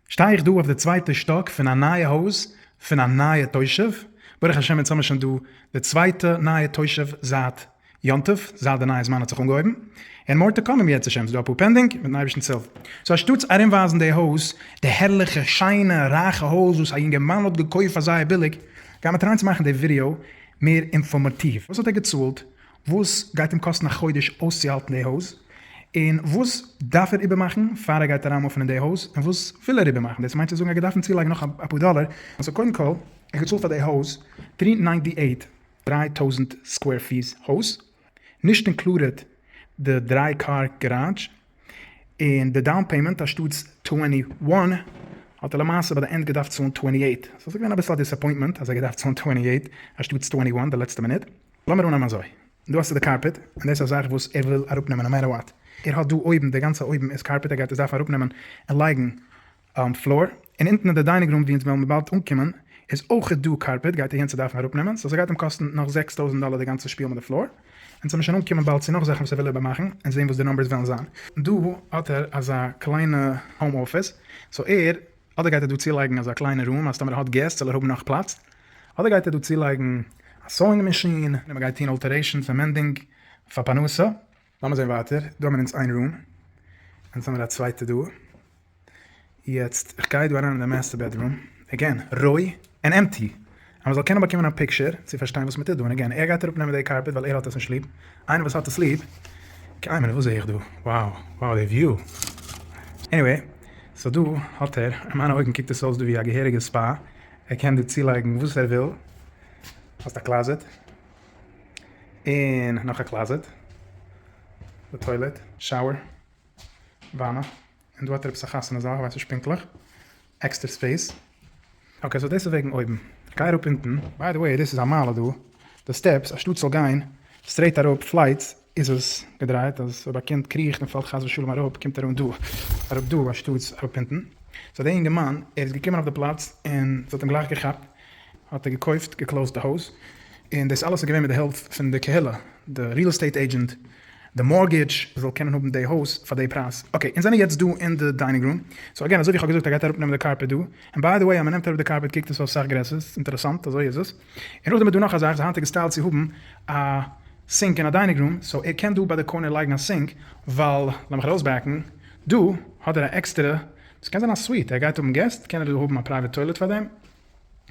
שטיי איך דא אויף די צווייטע שטאק פון א נייע הויז פון א נייע תושב, ברוך השם אונז האמיר שוין דא די צווייטע נייע תושב זייט יום טוב, זייט די נייע זמן האט זיך אנגעהויבן, און מאר טו קאם אם ירצה השם, ס'איז דא אפאר פענדינג, מיטן אייבערשטנ'ס הילף. סאו אנשטאטס ארומווייזן די הויז, די הערליכע שיינע רייכע הויז וואס א יונגערמאן האט געקויפט פאר זייער ביליג, גיימיר טרייען צו מאכן די ווידיאו מער אינפארמאטיוו, וואס האט ער געצאלט, וואס גייט אים קאסטן א חודש אויסצוהאלטן די הויז, און וואס דארף ער איבערמאכן פאר ער גייט אריינמופן אין די הויז, און וואס וויל ער איבערמאכן, דאס מיינט צו זאגן ער גייט דארפן צולייגן נאך אפאר דאלער, סאו קודם כל ער האט געצאלט פאר די הויז טרי ניינטי עיט, דריי טויזנט סקווער פיס הויז, נישט אינקלודעט די דריי קאר גאראדזש, און די דאון פעימענט אנשטאטס טווענטי וואן האט ער למעשה ביי די ענד געדארפט צאלן טווענטי עיט, סאו ס'איז געווען אביסל א דיסעפוינטמענט אז ער גייט דארפן צאלן טווענטי עיט אנשטאטס טווענטי וואן די לעצטע מינוט. לאמיר אננעמען אזוי, דא האסטו די קארפעט, און דאס איז א זאך וואס ער וויל אראפנעמען נאו מעטער וואט, ער האט דא אויבן, די גאנצע אויבן איז קארפעט, ער גייט עס דארפן אראפנעמען און לייגן פלאר, און אונטן אין די דיינינג רום ווי אונז וועלן באלד אנקומען איז אויך דא קארפעט, גייט ער יענס עס דארפן אראפנעמען, סאו ס'גייט אים קאסטן נאך זעקס טויזנט דאלער די גאנצע שפיל מיט די פלאר, אונז וועלן שוין אנקומען באלד צו נאך זאכן וואס ער וויל איבערמאכן און זען וואס די נומבערס וועלן זיין. דא האט ער אזא קליינע האום אפיס, סאו ער. אדער גייט ער דא צולייגן אזא קליינע רום אז טאמער ער האט געסט זאל ער האבן נאך פלאץ, אדער גייט ער דא צולייגן א סאוינג מאשין, און מ'גייט טון אלטערעישאנס און מענדינג פאר פרנסה. לאמיר זעהן ווייטער, דא האמיר אונז איין רום, אונז האמיר א צווייטע דא, יעצט איך גיי דא אריין אין די מעסטער בעדרום, עגעין, רוי, ענד עמפטי, אז מען זאל קענען באקומען א פיקשער צו פארשטיין וואס מען טוט דא, און אגעין, ער גייט אראפ נעמען די קארפעט ווייל ער האט עס נישט ליב, איינער וואס האט עס ליב, קיי מינוט וואס זעה איך דא, wow, wow די וויו, עניוועי, סאו דא האט ער, אין מיינע אויגן קוקט עס אויס דא ווי א געהעריגע ספא, ער קען דא צולייגן וואס ער וויל, האסט א קלאזעט, און נאך א קלאזעט, די טוילעט, שאוער, וואנע, און דא האט ער עפעס א חתונה זאל, איך ווייס נישט פונקטליך, עקסטער ספעיס. אקעי סאו דאס איז וועגן אויבן. גיי אראפ אונטן. ביי די וועי דאס איז א מעלה דא. די סטעפס אנשטאט ס'זאל גיין סטרעיט אראפ פלייטס איז עס געדרייט אז אויב א קינד קריכט און פאלט חס ושלום אראפ קומט ער אן דא אראפ דא אנשטאטס אראפ אונטן. סאו דער אינגערמאן ער איז געקומען אויף די פלאץ און ס'האט אים גלייך געכאפט האט ער געקויפט געקלאוזט די הויז און דאס אלעס איז געווען מיט די הילף פון די קהילה די ריעל עסטעיט עידזשענט די מארטגעדזש זאל קענען האבן די הויז פאר די פרייז. אקעי אונז זענען יעצט דא אין די דיינינג רום, סאו אגעין אזוי ווי איך האב געזאגט ער גייט אראפ נעמען די קארפעט דא, און ביי די וועי אז מען נעמט אראפ די קארפעט קוקט עס אויס סאך גרעסער, ס'איז אינטערעסאנט אזוי איז עס, און נאכדעם איז דא נאך א זאך די היינטיגע סטייל צו האבן א סינק אין א דיינינג רום, סאו ער קען דא ביי די קארנער לייגן א סינק, ווייל לאמיך ארויסבעקן, דא האט ער א עקסטערע, דאס קען זיין א סוויט, ער גייט האבן געסט קען ער דא האבן א פרייוועט טוילעט פאר דעם,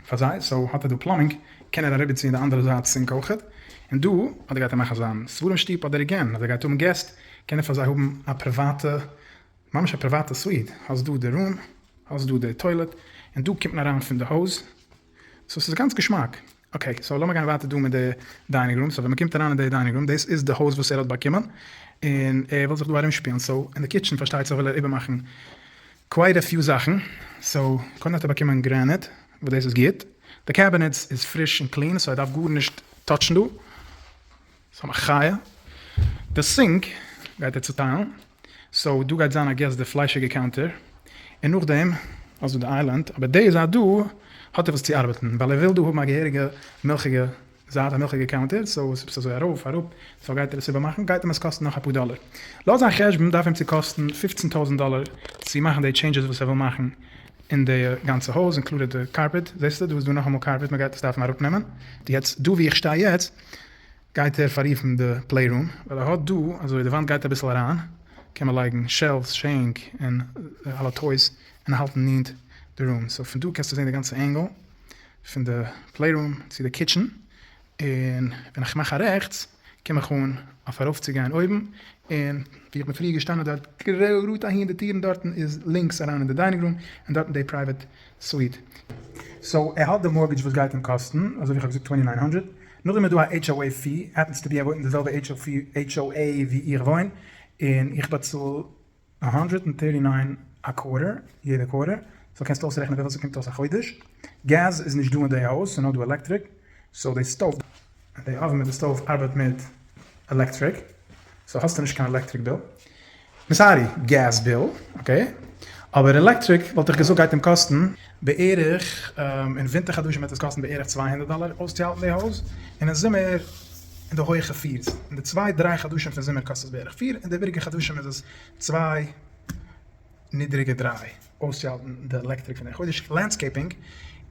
פאר זיי, סאו האט ער דא פלאמינג, קען ער אריבערציען די אנדערע זייט סינק אויך, און דא אדער גייט ער מאכן זיין ספרים שטוב אדער עגעין אז ער גייט האבן געסט קען ער פאר זיי האבן א פריוואטע ממש א פריוואטע סוויט, האסט דא די רום, האסט דא די טוילעט, און דא קומט מען אריין פון די הויז, סאו ס'איז גאנץ געשמאק. אקעי סאו לאמיר גיין ווייטער דא מיט די דיינינג רום, סאו ווען מ'קומט אריין אין די דיינינג רום דאס איז די הויז וואס ער האט באקומען, און ער וויל זיך דא ארום שפילן, סאו אין די קיטשען פארשטייט זיך וויל ער איבער מאכן קווייט א פיו זאכן, סאו קודם האט ער באקומען גרענעט וואס דאס איז גוט, די קעבינעטס איז פריש און קלין סאו ער דארף גארנישט טאטשן דא, סאו מחיה, די סינק גייט ער צוטיילן, סאו דא גייט זיין איי געס די פליישיגע קאונטער, און נאכדעם האסטו די איילענד, אבער די זייט דא האט ער וואס צו ארבעטן, ווייל ער וויל דא האבן א געהעריגע מילכיגע זיי האט הנחה געקאונטערט, סאו וואס ביסטו אזוי ארויף אראפ, סאו גייט ער עס איבערמאכן, גייט אים עס קאסטן נאך אפאר דאלער, לויט זיין חשבון דארף אים צו קאסטן פֿופֿצן טויזנט דאלער צו מאכן די טשעינדזשעס וואס ער וויל מאכן אין די גאנצע הויז, אינקלודעד די קארפעט, זעסטו דא איז דא נאכאמאל קארפעט מען גייט עס דארפן אראפ נעמען. יעצט דא ווי איך שטיי יעצט גייט ער פאררופן די פלעי רום, ווייל ער האט דא אזוי די וואנט גייט אביסל אריין, קען מען לייגן שעלווס, שענק, און אלע טויס און האלטן נענט די רום, סאו פון דא קענסטו זען די גאנצע ענגל, פון די פלעי רום צו די קיטשען, און ווען איך מאך א רעכטס קום איך אן אויף ארויפצוגיין אויבן, און ווי איך בין פריער געשטאנען דארט גראד אהין די טירן דארטן איז לינקס אריין אין די דיינינג רום און דארטן די פרייוועט סוויט. סאו ער האט די מארטגעדזש וואס גייט אים קאסטן אזויווי איך האב געזאגט טווענטי ניין הונדרעט, נאכדעם איז דא א HOA פי, עפענס טו בי ער וואוינט אין די זעלבע HOA ווי איך וואוין, און איך באצאל א האנדרעט ענד טערטי ניין א קווארטער, יעדע קווארטער, סאו קענסטו אויסרעכענען וויפיל ס'קומט אויס א חודש, געז איז נישט דא אין די הויז ס'נאר דא עלעקטריק, סאו די סטאוו, די אווען מיט די סטאוו ארבעט מיט עלעקטריק, סאו האסטו נישט קיין עלעקטריק ביל, סארי געז ביל, אקעי, אבער עלעקטריק וואלט איך געזאגט גייט אים קאסטן בערך, אין ווינטער חדשים וועט עס קאסטן בערך צוויי הונדערט דאלאר אויסצוהאלטן די הויז, און אין זומער אין די הויעכע פירס. אין די צוויי דריי חדשים פון זומער קאסט עס בערך פיר, אין די איבעריגע חדשים איז עס צוויי נידריגע דריי אויסצוהאלטן די עלעקטריק פון די חודש. לענדסקעיפינג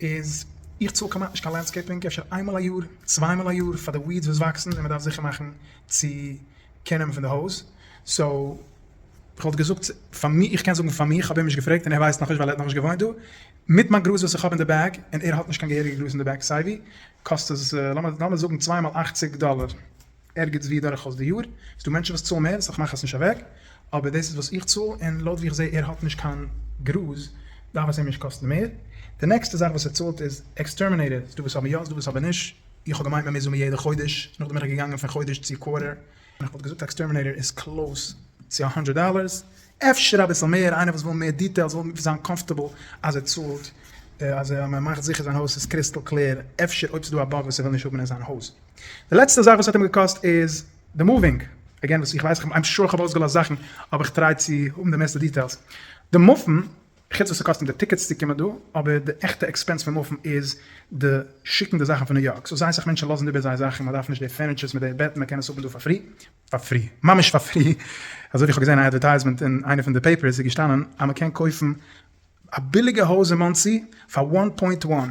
איז, איך צאל כמעט נישט קיין לענדסקעיפינג, אפשר איינמאל א יאר, צוויי מאל א יאר פאר די וויעדס וואס וואקסן און מען דארף זיכער מאכן צו קענען פון די הויז, סאו כ'וואלט געזאגט פאר מיר, איך קען זאגן פאר מיר, כ'האב אים נישט געפרעגט און ער ווייסט נאכנישט ווייל ער האט נאכנישט געוואוינט דא, מיט מיין גראז וואס איך האב אין די בעג, און ער האט נישט קיין געהעריגע גראז אין די בעג סייווי, קאסט עס לאמיר זאגן צוויי מאל אַכציק דאללער ערגעץ ווי דורכאויס די יאר, ס'דא מענטשן וואס צאלן מער, סא כ'מאך עס נישט אוועק, אבער דאס איז וואס איך צאל, און לויט ווי כ'זעה ער האט נישט קיין גראז, דארף עס אים נישט קאסטן מער. די נעקסטע זאך וואס ער צאלט איז עקסטערמינעיטער, ס'דא וואס האבן יא, ס'דא וואס האבן נישט, איך האב געמיינט מ'מוז האבן יעדע חודש, נאכדעם בין איך געגאנגען פון חודש צו קווארטער. איך וואלט געזאגט עקסטערמינעיטער איז קלאוס צו א הונדרעט דאלערס, אפשר אביסל מער, איינער וואס וויל מער דיטעילס וויל זיין קאמפארטעבל אז ער צאלט, אז מען מאכט זיכער זיין הויז איז קריסטעל קלער, אפשר אויב ס'דא א באג וואס ער וויל נישט האבן אין זיין הויז. די לעצטע זאך וואס האט אים געקאסט איז די מאווינג, עגעין וואס איך ווייס, איים שאר איך האב אויסגעלאזט זאכן, אבער איך טריי צו האבן די מערסטע דיטעילס, די מופן חוץ וואס ס'קאסט אים די טיקעטס צו קומען דא, אבער די עכטע עקספענס פון מופן איז די שיקן די זאכן פון ניו יארק, סאו זייער סאך מענטשן לאזן איבער זייער זאכן, מען דארף נישט די פערניטשערס מיט די בעטן, מען קען עס האבן דא פאר פרי, פאר פרי, ממש פאר פרי, אזוי ווי איך האב געזען א אדווערטייזמענט אין איינע פון די פעיפערס איז געשטאנען אז מען קען קויפן א ביליגע הויז אין מאנסי פאר וואן פוינט וואן,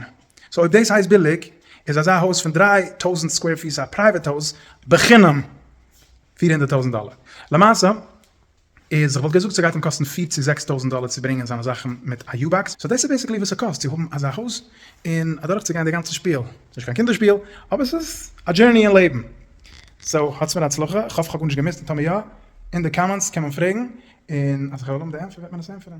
סאו אויב דאס הייסט ביליג איז אזא הויז פון דרײַ טויזנט סקווער פיס א פרייוועט הויז בחינם פֿיר הונדערט טויזנט דאלער, למעשה איז איך וואלט געזאגט ס'גייט אים קאסטן פֿיר צו זעקס טויזנט דאלער צו ברענגען זיינע זאכן מיט א יו באקס, סאו דאס איז בעסיקלי וואס ס'קאסט צו האבן אזא הויז און אדורך צו גיין די גאנצע שפיל, ס'איז נישט קיין קינדער שפיל אבער ס'איז א דזשערני אין לעבן, סאו האטס מיר הצלחה, איך האף כ'האב גארנישט געמיסט און טאמער יא אין די קאמענטס קען מען פרעגן און אז כ'וועל האבן די ענטפער וועט מען עס ענטפערן.